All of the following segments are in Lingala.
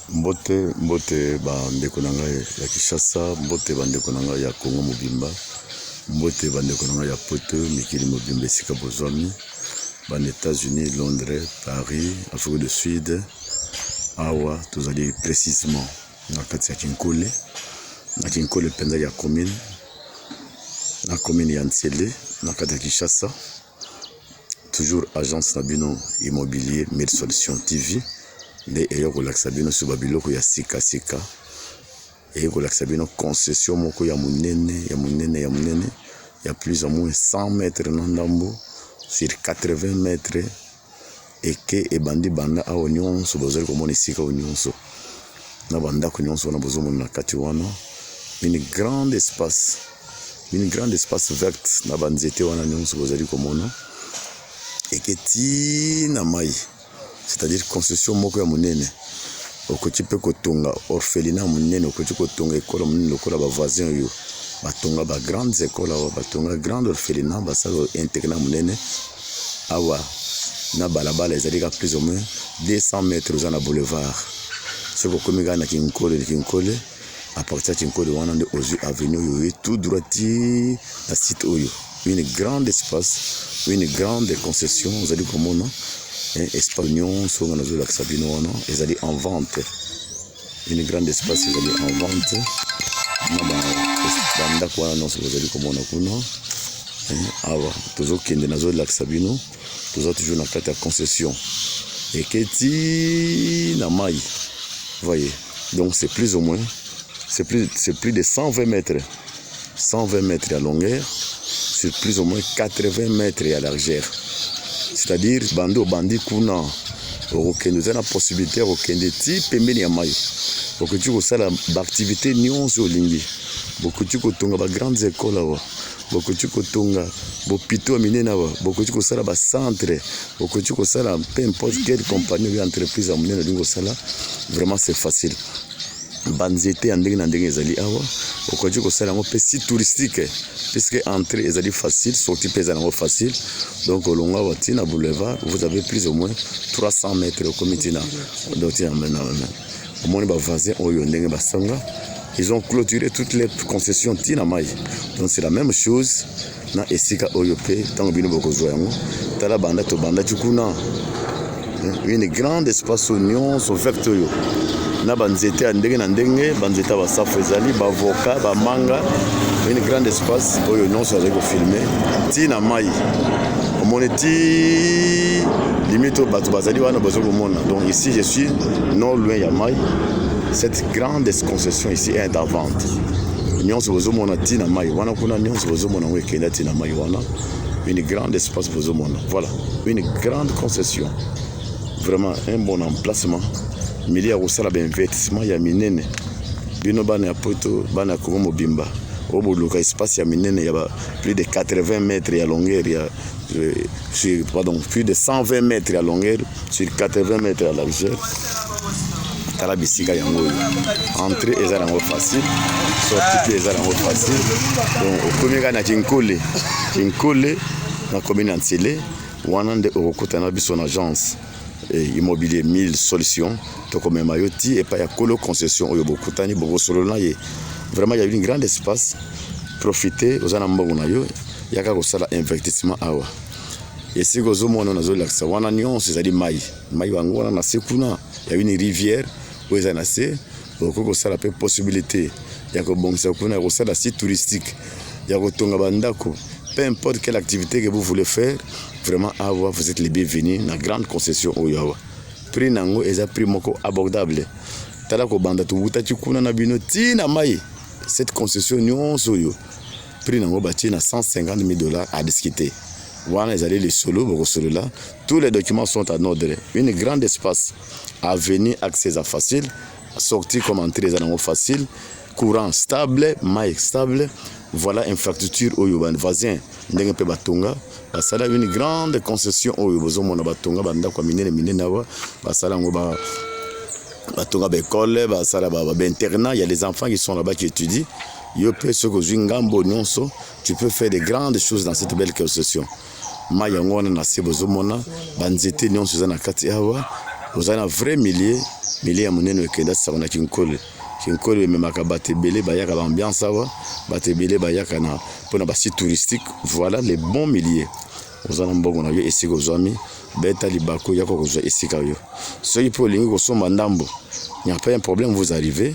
Mbote mbote ba ndeko na ngai ya Kinshasa, mbote ba ndeko na ngai ya Congo mobimba, mbote ba ndeko na ngai ya poto mikili mobimba esika bozwami ba na Etats-Unis, Londres, Paris, Afrique du Sud, awa tozali precisement na kati ya Kinkole, na Kinkole mpenza ya commune na commune ya Nsele na kati ya Kinshasa. toujours agence na bino immobilier mille solution tv nde eye kolakisa bino sur babiloko ya sikasika eye kolakisa bino concession moko ya monene ya monene ya monene ya plus ya moins 100 mètre na ndambo sur 80 mètre eke ebandi banda awa nyonso bozali komona esika oyo nyonso na bandako nyonso wana bozomona na kati wana une grande espace une grande espace verte na banzete wana nyonso bozali komona eke ti na mai c'est-à-dire construction moko ya monene okoki mpe kotonga orphelina monene okoki kotonga ekolo monene lokola bavoisin oyo batonga bagrandes ekole awa batonga grande orphelina basala internat monene awa na balabala ezali ka plus ou moins 200 mètres oza na boulevard soki okomi kaka na kinkole kinkole à partir ya kinkole wana nde ozwi avenue oyo oye tout droit ti na site oyo une grande espace une grande concession ozali komona espace nyonso nga nazolakisa bino wana ezali en vente Une grande espace ezali en vente na bandako wana nyonso bozali komona kuna eh, awa tozokende nazolakisa bino toza toujours na kati ya concession eketi na mai voyez donc c'est plus ou moins c'est plus, plus de 120 mètres 120 mètres ya longueur sur plus ou moins 80 mètres ya largeur c'est-à-dire bande obandi kuna okokende oza na possibilité ya kokende ti pembeni ya mai okoki kosala baactivité nyonso olingi bokoki kotonga bagrandes écoles awa bokoki kotonga bopito ya minene awa bokoki kosala bacentre bokoki kosala peu importe quelle compagnie oyo entreprise ya monene olingi kosala vraiment c'est facile banzete ya ndenge na ndenge ezali awa okoki kosala yango mpe site touristique puisque entrée ezali facile sorti mpe ezali yango facile donc olonga awa ti na boulevard vous avez plus ou moins 300 mètres okomi ti na omoni bavoisin oyo ndenge basanga ils ont clôturé toutes les concessions ti na mai donc c'est la même chose na esika oyo mpe ntango bino bokozwa yango tala banda tobandaki kuna eh, une grande espace oyo nyonso verte oyo na banzete ya ndenge na ndenge banzete ya basafu ezali bavoka bamanga une grande espace oyo nyonso azali kofilme ti na mai omoni ti limite oyo bato bazali wana bazo komona donc ici je suis non loin ya mai cette grande concession ici est en vente nyonso bozomona ti na mai wana kuna nyonso bozomona yango ekenda ti na mai wana une grande espace bozomona voilà une grande concession vraiment un bon emplacement milieu ya kosala bainvestissement ya minene bino bana ya poto bana ya kongo mobimba oyo boluka espace ya minene ya ba plus de 80 mètres ya longueur ya euh, pardon plus de 120 mètres ya longueur sur 80 mètres ya largeur tala bisika yango oyo entre eza nango facile sorti mpe eza nango facile donc okomi kaka na kinkole kinkole na commune ya nsele wana nde okokutana biso na agence eh, immobilier 1000 solution tokomema yo ti epai ya kolo concession oyo bokutani bokosolola na ye vraiment ya une grande espace profite oza na mbongo na yo yaka kosala investissement awa Esika ozomona nazolakisa wana nyonso ezali mai mai yango wana na se kuna ya une rivière oyo eza na se okoki kosala mpe possibilité ya kobongisa kuna ya kosala site touristique ya kotonga bandako peu importe quelle activité que vous voulez faire vraiment awa vous êtes les bienvenus na grande concession oyo awa prix na yango eza prix moko abordable tala kobanda towutaki kuna na bino ntina mai cette concession nyonso oyo prix na yango batie na 150 000 dollars à discuter wana ezali lisolo bokosolola tous les documents sont en ordre une grande espace avenue accès eza facile sortie comme entrée eza nango facile courant stable mai stable voilà infrastructure oyo bavoisin ndenge mpe batonga basala une grande concession oyo bozomona batonga bandako ya minene minene awa basala yango ba batonga baekole basala bainternat ya les enfants qui sont là-bas qui étudient Yo pe soki ozwi ngambo nyonso, tu peux faire de grandes choses dans cette belle concession. Mai yango wana na se bozomona banzete nyonso eza na kati awa, ozali na vrai milieu, milieu ya monene okenda sango na Kinkole. Kinkole ememaka bato ebele bayaka ba ambiance awa, bato ebele bayaka na mpo na basite touristique. Voilà le bon milieu. Oza na mbongo na yo esika ozwami, beta libaku yako kozwa esika yo. Soki mpe olingi kosomba ndambo, il n'y a pas un problème, vous arrivez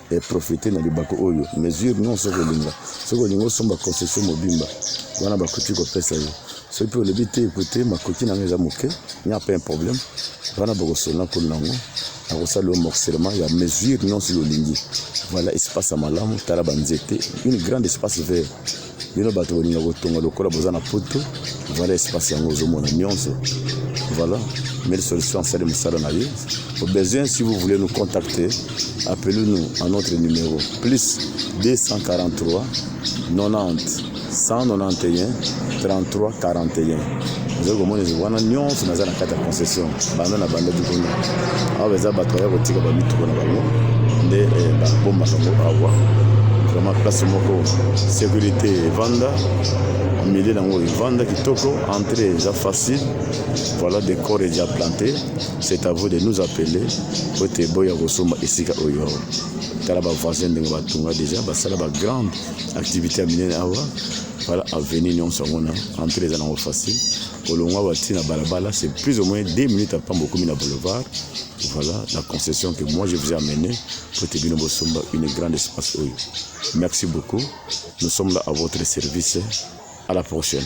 e profiter na libaku oyo mesure non soki olinga soki olinga osomba concession mobimba wana bakoki kopesa yo soki mpe olobi te ekote makoki na ngai eza moke nya mpe un problème wana bokosona kuna nango akosala yo morcellement ya mesure non soki olingi voilà espace ya malamu tala banzete une grande espace vert bino bato bolinga kotonga lokola boza na poto vala espace yango ozomona nyonso voilà mille solution asali mosala na ye au besoin si vous voulez nous contacter appelez nous à notre numéro plus 243 90 191 33 41 ozali komona ezali wana nyonso naza na kati ya concession banda na bandaki kuna awa eza bato baya kotika bamituko na bango nde eh, babombaka ngo awa vraiment place moko sécurité evanda milieu nango evanda kitoko entrée eza facile voilà des corps eja planté c'est à vous de nous appeler po ete boya kosomba esika oyo awa tala bavoisin ndenge batonga déjà basala bagrande activité ya minene awa Voilà, avenue nyonso yango na entrée eza nango facile kolongwa bati na balabala c'est plus ou moins 2 minutes apres bokomi na boulevard voilà la concession que moi je vous ai amené pour te bino bosomba une grande espace oyo merci beaucoup nous sommes là à votre service à la prochaine